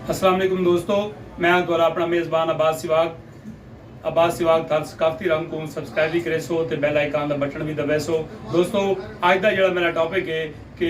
السلام علیکم دوستو میں ہاں تہاڈا اپنا میزبان عباس سواگ عباس سواگ تھار ثقافتی رنگ کو سبسکرائب بھی کرے سو تے بیل آئیکن دا بٹن بھی دبے سو دوستو اج دا جڑا میرا ٹاپک ہے کہ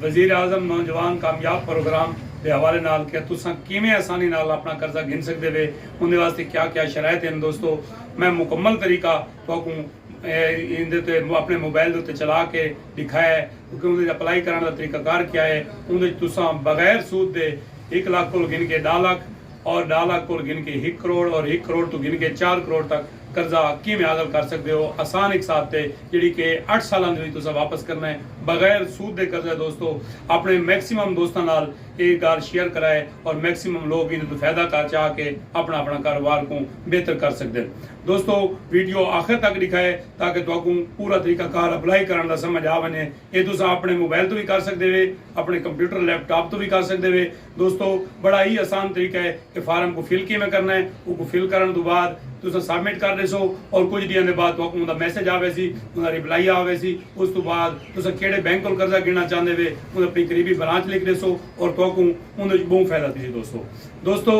وزیر اعظم نوجوان کامیاب پروگرام دے حوالے نال کہ تساں کیویں آسانی نال اپنا قرضہ گھن سکدے وے اوندے واسطے کیا کیا شرائط ہیں دوستو میں مکمل طریقہ تہاکوں ایندے تے اپݨے موبائل دے اتے چلا کے ݙکھا ہے کیونکہ اوندے اچ اپلائی کرݨ دا طریقہ کار کیا ہے اوندے اچ تساں بغیر سود دے ہک لکھ کولھ گھن کے ݙاہ لکھ اور ݙاہ لکھ کولھ گھن کے ہک کروڑ اور ہک کروڑ توں گھن کے چار کروڑ تک قرضہ کیویں حاصل کر سڳدے ہو آسان اقساط تے جیڑھی کہ اٹھ سالاں دے وچ تساں واپس کرݨا ہے بغیر سود دے قرضہ ہے دوستو اپݨے میکسیمم دوستاں نال اے ڳالھ شیئر کرائے اور میکسیمم لوک ایندے توں فیدہ کر چا کے اپݨا اپݨا کاروبار کوں بہتر کر سڳدن۔ دوستو ویڈیو آخر تک ڈکھائے تاکہ تہاکوں پورا طریقہ کار اپلائی کرن دا سمجھ آ ونجے اے تساں اپنڑے موبائل توں وی کر سکدے وے اپنڑے کمپیوٹر لیپ ٹاپ توں وی کر سکدے وے دوستو بڑا ہی آسان طریقہ ہے اے فارم کوں فل کیویں کرنا ہے اوکوں فل کرن توں بعد تساں سبمٹ کر ڈیسو اور کچھ ڈینہاں دے بعد تہاکوں اوندا میسج آ ویسی اوندا ریپلائی آ ویسی اس توں بعد تساں کیڑھے بینک کول قرضہ گھنڑنا چاہندے وے اوں اپنی قریبی برانچ لکھ ڈیسو اور تہاکوں اوندے وچ بہوں فائدہ تھیسی دوستو دوستو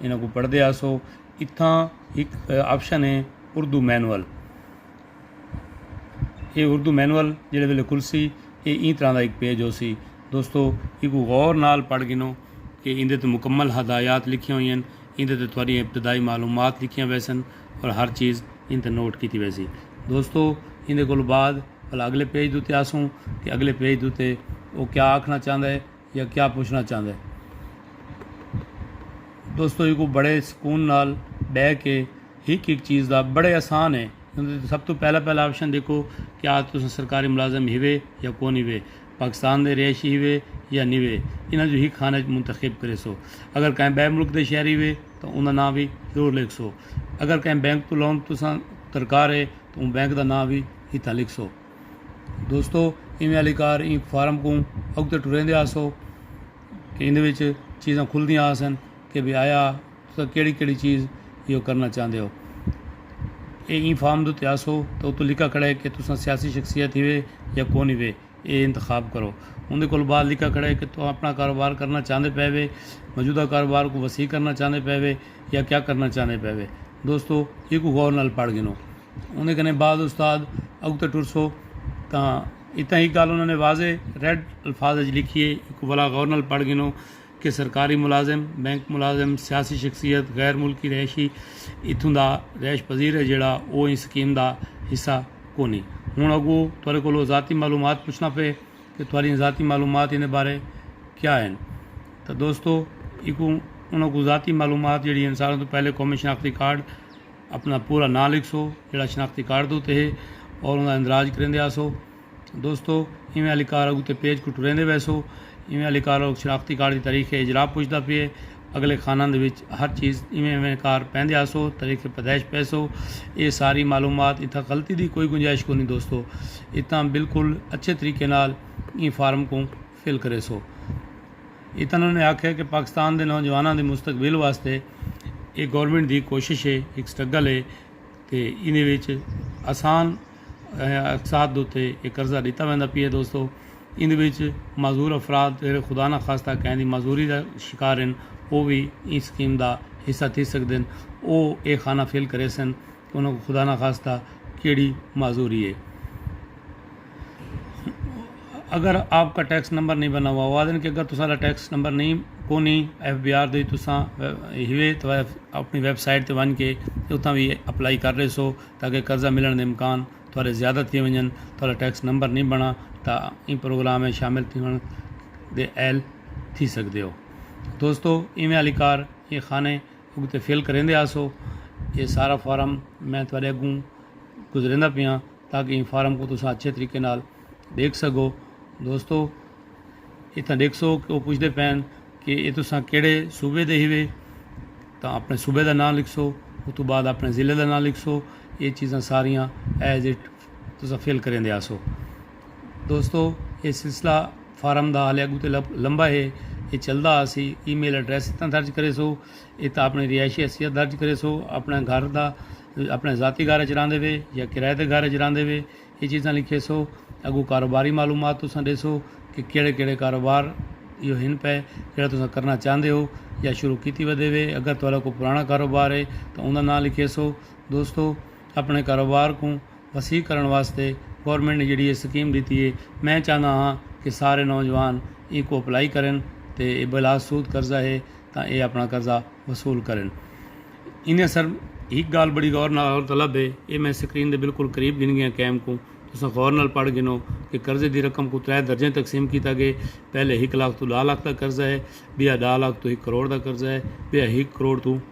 انہاں کوں پڑھدے آسو اتھاں ہک آپشن ہے اردو مینول یہ اردو مینول جہے ویلے کھلسی یہ ایں طرح کا ایک پیج ہو سی دوستو یہ کو غور نال پڑھ گنو کہ اندے تے مکمل ہدایات لکھیاں ہوئی ہیں اندے تے تھوڑی ابتدائی معلومات لکھیاں ویسن اور ہر چیز ان تے نوٹ کیتی ویسی دوستو اندے کو بعد پھلا اگلے پیج دوتے آسوں کہ اگلے پیج دوتے وہ کیا آکھنا چاہتا ہے یا کیا پچھنا چاہندے۔ دوستو ایکوں بڑے سکون نال بہ کے ہک ہک چیز دا بڑے آسان ہے سب توں پہلا پہلا آپشن ڈیکھو کیا تساں سرکاری ملازم ہیوے یا کون ہیوے پاکستان دے رہائشی ہیوے یا نیوے انہاں جو ہک خانہ اچ منتخب کرے سو اگر کہیں بے ملک دے شہری وے تاں اوندا ناں وی ضرور لکھ سو اگر کہیں بینک توں لون تساں درکار ہے تاں اوں بینک دا ناں وی اتھاں لکھ سو۔ دوستو ایویں آلی کار ایں فارم کوں اگتے ٹریندے آسو کہ ایندے وچ چیزاں کھلدیاں آسن کہ بھئی آیا تساں کیڑھی کیڑھی چیز ایہو کرنا چاہندے او ایہ ایں فارم دے اتے آسو تے اتو لکھا کھڑے کہ تساں سیاسی شخصیت ہیوے یا کون ہیوے ایہ انتخاب کرو اوندے کولو بعد لکھا کھڑے کہ توں اپنا کاروبار کرنا چاہندے پئے وے موجودہ کاروبار کوں وسیع کرنا چاہندے پئے وے یا کیا کرنا چاہندے پئے وے دوستو ایکوں غور نال پڑھ گھنو اوندے کنے بعض استاد اگتے ٹرسو تاں اتاں ہک گالھ انہاں نے واضح ریڈ الفاظ اچ لکھی اے ایکوں بھلا غور نال پڑھ گھنو کہ سرکاری ملازم، بینک ملازم، سیاسی شخصیت، غیر ملکی رہائشی اتھوں دا رہائش پذیر اے جیڑھا او ایں سکیم دا حصہ کونی۔ ہنڑ اگو تہاڈے کولو ذاتی معلومات پچھنا پئے کہ تہاڈیاں ذاتی معلومات ایندے بارے کیا ہن تاں دوستو ایکوں انہاں کوں ذاتی معلومات جیڑھی ہن ساریں توں پہلے قومی شناختی کارڈ، اپݨا پورا ناں لکھسو جیڑھا شناختی کارڈ دے اتے ہے اور اوندا اندراج کریندے آسو دوستو ایویں آلی کارڈ اتے پیج کوں ٹریندے ویسو ایویں آلی کارڈ اتے شناختی کارڈ دی تاریخ اجرا پچھدا پئے اگلے خانہ دے وچ ہر چیز ایویں ایویں کار پیندے آسو تاریخ پیدائش پیسو ایہ ساری معلومات اتھاں غلطی دی کوئی گنجائش کونی دوستو اتھاں بالکل اچھے طریقے نال ایں فارم کوں فل کریسو۔ اتنوں انہیں آکھیا کہ پاکستان دے نوجواناں دے مستقبل واسطے اے گورنمنٹ دی کوشش اے، ہک سٹرگل اے تے ایندے وچ آسان اقساط دے اتے اے قرضہ ݙتا ویندا پئے دوستو ایندے وچ معذور افراد جیڑھے خدا نہ خواستہ کہیں دی معذوری دا شکار ہن او وی ایں سکیم دا حصہ تھی سڳدن او اے خانہ فل کریسن۔ انہاں کوں خدا نخواستہ کیڑھی معذوری ہے۔ اگر آپ کا ٹیکس نمبر نہیں بنا ہوا، او آدھن کہ اگر تساں دا ٹیکس نمبر نہیں کونی ایف بی آر دی تساں ہیوے تو اپنی ویب سائٹ تے ونج کے اتھاں وی اپلائی کر رہے سو تاکہ قرضہ ملن دے امکان تہاڈے زیادہ تھی ونجن، تہاڈا ٹیکس نمبر نہیں بنا تاں ایں پروگرام وچ شامل تھیوݨ دے اہل تھی سکدے ہو۔ دوستو ایویں آلی کار ایں خانے۔ اگتے فل کریندے آسو اے سارا فارم میں تہاڈے اگوں گزریندا پیاں تاکہ ایں فارم کو تساں اچھے طریقے نال ڈیکھ سگو دوستو اتھاں ڈیکھسو کہ وہ پوچھتے پین کہ اے تساں کیڑے صوبے دے ہیوے تاں اپنے صوبے دا نام لکھسو اتو بعد اپنے ضلع دا نام لکھسو اے چیزاں ساریاں ایز اٹ تساں فل کریندے آسو دوستو اے سلسلہ فارم دا حالیہ گو تے لمبا ہے اے چلدا آسی ای میل ایڈریس اتنا درج کرے سو ات اپنی رہائشی حیثیت درج کرے سو اپنے گھر دا اپنے ذاتی گھر اچ راندے وے یا کرائے دے گھر اچ راندے وے اے چیزاں لکھے سو اگو کاروباری معلومات تساں دے سو کہ کیڑے کیڑے کاروبار یو ہن پے جڑا تساں کرنا چاہندے ہو یا شروع کیتی ودے وے اگر تہاڈا کوئی پرانا کاروبار ہے تاں اوندا ناں لکھے سو دوستو اپݨے کاروبار کوں وسیع کرݨ واسطے گورنمنٹ نے جیڑھی اے سکیم ݙتی اے میں چاہندا ہاں کہ سارے نوجوان اینکوں اپلائی کرن تے اے بلا سود قرضہ اے تاں اے اپݨا قرضہ وصول کرن انہیں سر ہک گالھ بڑی غور نال غور طلب اے اے میں سکرین دے بالکل قریب گھن گیاں کیم کوں تساں غور نال پڑھ گھنو کہ قرضے دی رقم کوں ترے درجیں تقسیم کیتا گئے پہلے ہک لاکھ توں ݙاہ لاکھ دا قرضہ اے ٻیا ݙاہ لاکھ توں ہک کروڑ دا قرضہ اے ٻیا ہک کروڑ توں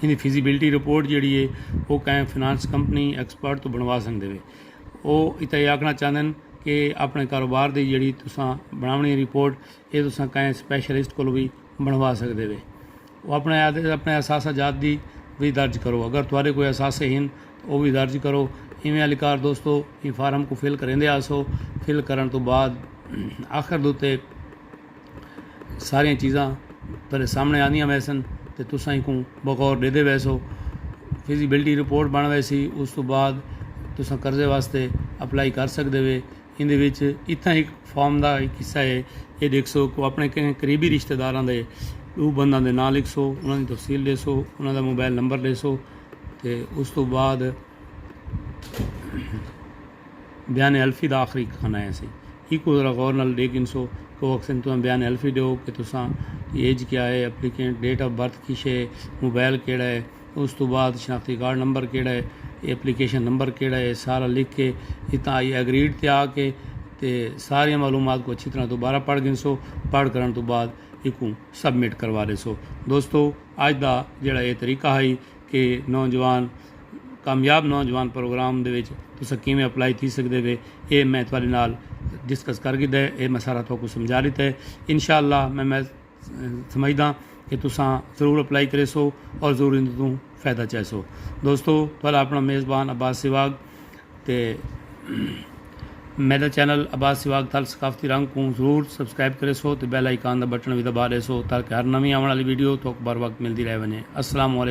ایندی فیزیبلٹی رپورٹ جیڑھی اے او کہیں فنانس کمپنی ایکسپرٹ توں بݨوا سڳدے وے۔ او اتھاں اے آکھݨا چاہندن کہ اپݨے کاروبار دی جیڑھی تساں بݨاوݨی اے رپورٹ اے تساں کہیں سپیشلسٹ کولوں وی بݨوا سڳدے وے۔ او اپݨے آہدن اپݨے اثاثہ جات دی وی درج کرو اگر تہاݙے کوئی اثاثے ہن تاں او وی درج کرو۔ ایویں اہلکار دوستو ایں فارم کوں فل کریندے آسو۔ فل کرݨ توں بعد آخر دے اتے۔ ساریاں چیزاں پہلے سامنے آندیاں ویسن تے تساں ایکوں بغور ڈیدھے ویسو فزیبلٹی رپورٹ بن ویسی اس تو بعد تساں قرضے واسطے اپلائی کر سکدے وے ایندے وچ اتنا ایک فارم دا ایک حصہ ہے اے ڈیکھسو کو اپنے کہیں قریبی رشتہ داراں دے دو بنداں دے ناں لکھسو انہاں دی تفصیل ڈیسو انہاں دا موبائل نمبر ڈیسو تے اس تو بعد بیان الفی دا آخری کھانا ہے سی ایکوں ذرا غور نال ڈیکھ گھنسو کہ او اکھسن تہاں بیان حلفی ڈیو کہ تساں دی ایج کیا ہے، ایپلیکینٹ ڈیٹ آف برتھ کیش ہے، موبائل کیڑھا ہے، اس توں بعد شناختی کارڈ نمبر کیڑھا ہے، ایپلیکیشن نمبر کیڑھا ہے سارا لکھ کے اتھاں آئی ایگریڈ تے آ کے تے ساریاں معلومات کوں اچھی طرح دوبارہ پڑھ گھنسو، پڑھ کرݨ توں بعد ایکوں سبمٹ کروا ڈیسو۔ دوستو اج دا جیڑھا اے طریقہ ہئی۔ اے نوجوان کامیاب نوجوان پروگرام دے وچ تساں کیویں اپلائی تھی سکدے وے اے میں تہاڈے نال ڈسکس کر گھدا ہے اے میں سارا تہاکوں سمجھا ڈتا ہے انشاءاللہ میں میں سمجھدا کہ تساں ضرور اپلائی کریسو اور ضرور ان توں فائدہ چائیسو دوستو تہاڈا اپنا میزبان عباس سواگ تے میرا چینل عباس سواگ تھل ثقافتی رنگ کوں ضرور سبسکرائب کریسو تے بیل آئیکن دا بٹن وی دبا ڈیسو تاکہ ہر نویں آون والی ویڈیو تہاکوں بر وقت ملدی رہ ونجے السلام علیکم